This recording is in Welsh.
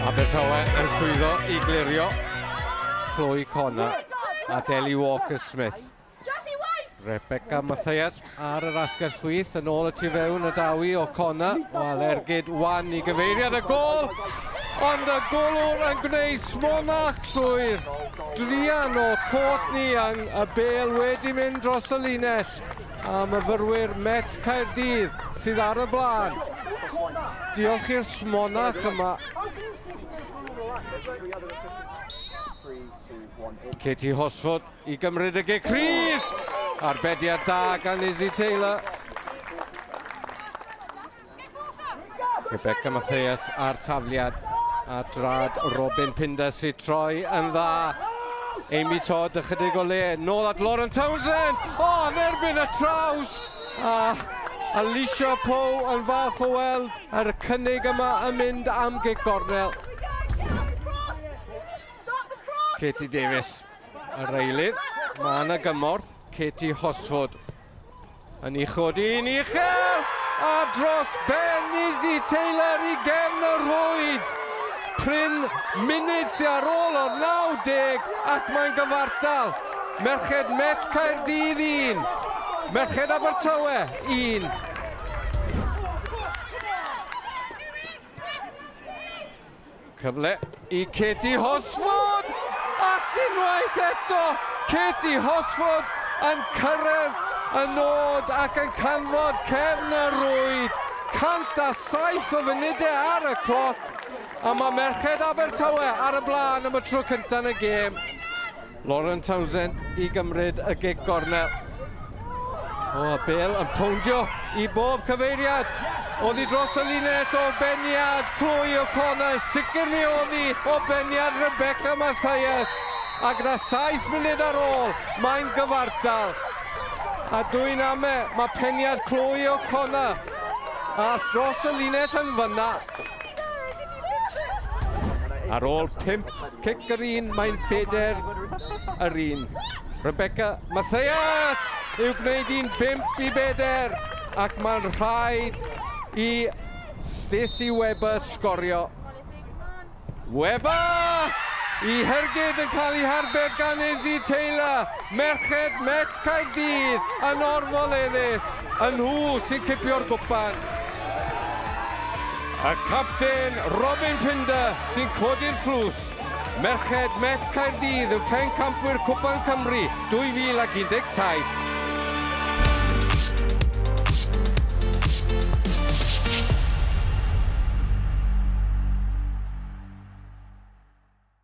Abertawe yn llwyddo i glirio Chloe Connor a Deli Walker-Smith. Rebecca Mathias ar yr asgell chwith yn ôl y tu fewn y dawi o Connor. Wel, ergyd wan i gyfeiriad y gol, ond y golwr yn gwneud smonach llwyr. Druan o Courtney Young, y bêl wedi mynd dros y linell a myfyrwyr Met Caerdydd sydd ar y blaen. Diolch i'r smonach yma. Katie Hosford i gymryd y gic rhydd. Arbediad da gan Izzy Taylor. Rebecca Mathias a'r tafliad a drad Robin Pinder sy'n troi yn dda. Amy Todd ychydig o le, nôl at Lauren Townsend! O, oh, yn erbyn y traws! A Alicia Pow yn falch o weld yr cynnig yma yn mynd am gig gornel. Katie Davis, yr eilydd. Mae yna gymorth, Katie Hosford. Yn ei chodi yn uchel, a dros ben Izzy Taylor i gefn y rhwyd. Pryn munud sy'n ar ôl o'r 90 ac mae'n gyfartal. Merched Met Caerdydd 1, Merched Abertawe 1. Cyfle i Katie Horsford! Ac unwaith eto, Katie Horsford yn cyrraedd y nod ac yn canfod cefn y rwyd. 107 o funudau ar y cloc, a mae merched Abertawe ar y blaen am y tro cyntaf yn y gêm. Lauren Townsend i gymryd y gig gornel. O, a Bale yn powndio i bob cyfeiriad. Oddi dros y linell o beniad Chloe O'Connor, sicr mi oddi o beniad Rebecca Mathias. A gyda 7 munud ar ôl, mae'n gyfartal. A dwy'n ame, mae peniad Chloe O'Connor a dros y linell yn fyna. Ar ôl pimp cic yr un, mae'n bedair yr un. Rebecca Mathias yw gwneud un bimp i bedair ac mae'n rhaid i Stacey Webber sgorio. Webber! I Hergyd yn cael ei harbed gan Izzy Taylor. Merched Met Caerdydd yn orfoleddus yn nhw sy'n cipio'r gwpan. Y capten Robin Pinder sy'n codi'r tlws. Merched Met Caerdydd yw pencampwyr Cwpan Cymru 2017.